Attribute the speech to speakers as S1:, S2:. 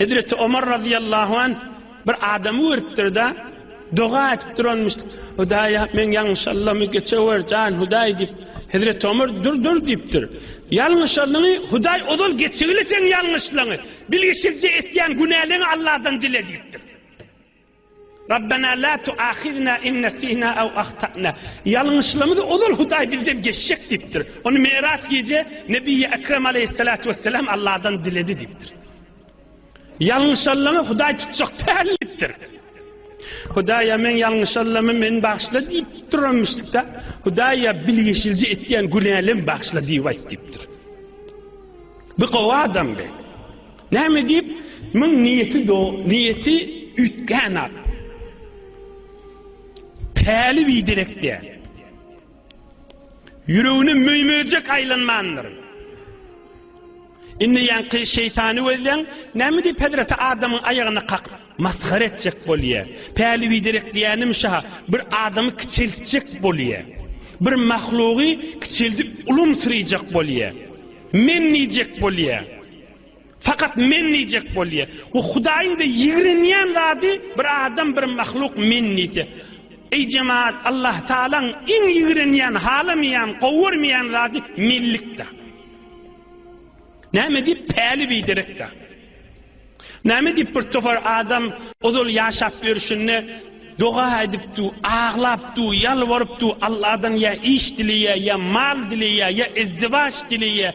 S1: Hezreti Omar razyýallahu anh bir adamy görüpdir-de, doga edip duranmyşdyk. Hudaýa, meň ýalňyşanlygymy geçewer, jan Hudaý diýip. Hezreti Omar, Dur, dur diýipdir. Ýalňyşanlygyňy Hudaý ozal geçigili seň ýalňyşlygyňy. Bilişikje etýän günäleňi Alladan dile diýipdir. Rabbena la tuahizna in nesina aw ahtana. Ýalňyşlymyzy ozal Hudaý bizden geçjek diýipdir. Ony Meýraç gije Nebiýi Ekrem aleýhissalatu wesselam Allahdan diledi diýipdir. Ýalňyşanlaňy Hudaý tutjak däl diýipdir. Hudaýa men ýalňyşanlamy meni bagyşla diýip duran müşrikde Hudaýa bilgeşilje etýän günälem bagyşla diýip aýt diýipdir. Bu gowy adam be. Näme diýip, muň niýeti do, niýeti üýtgän at. Päli biderek däl. Ýüregine möý-möjek aýlanmandyr. Indi ýaňky şeýtany gözleň, näme diýip hezreti adamyň aýagyna kakyp, masgara etjek bolýa. Päli biderek diýänim şa, bir adamy kiçeltjek bolýa. Bir mahlugy kiçeldip ulumsyryjak bolýa. Men diýjek bolýa. Fakat men diyecek bolýa. O Hudaýyň da ýigrenýän zady bir adam bir mahluk men diýse. Eý jemaat Allah Taalaň iň ýigrenýän, halamaýan, gowarmaýan zady mellikde. Näme diýip päli biderekde. Näme diýip bir topar adam ozal ýaşap ýörşünde doga aýdypdy, aglapdy, ýalbarypdy, Allahdan ýa iş dileýär, ýa mal dileýär, ýa izdiwaç dileýär.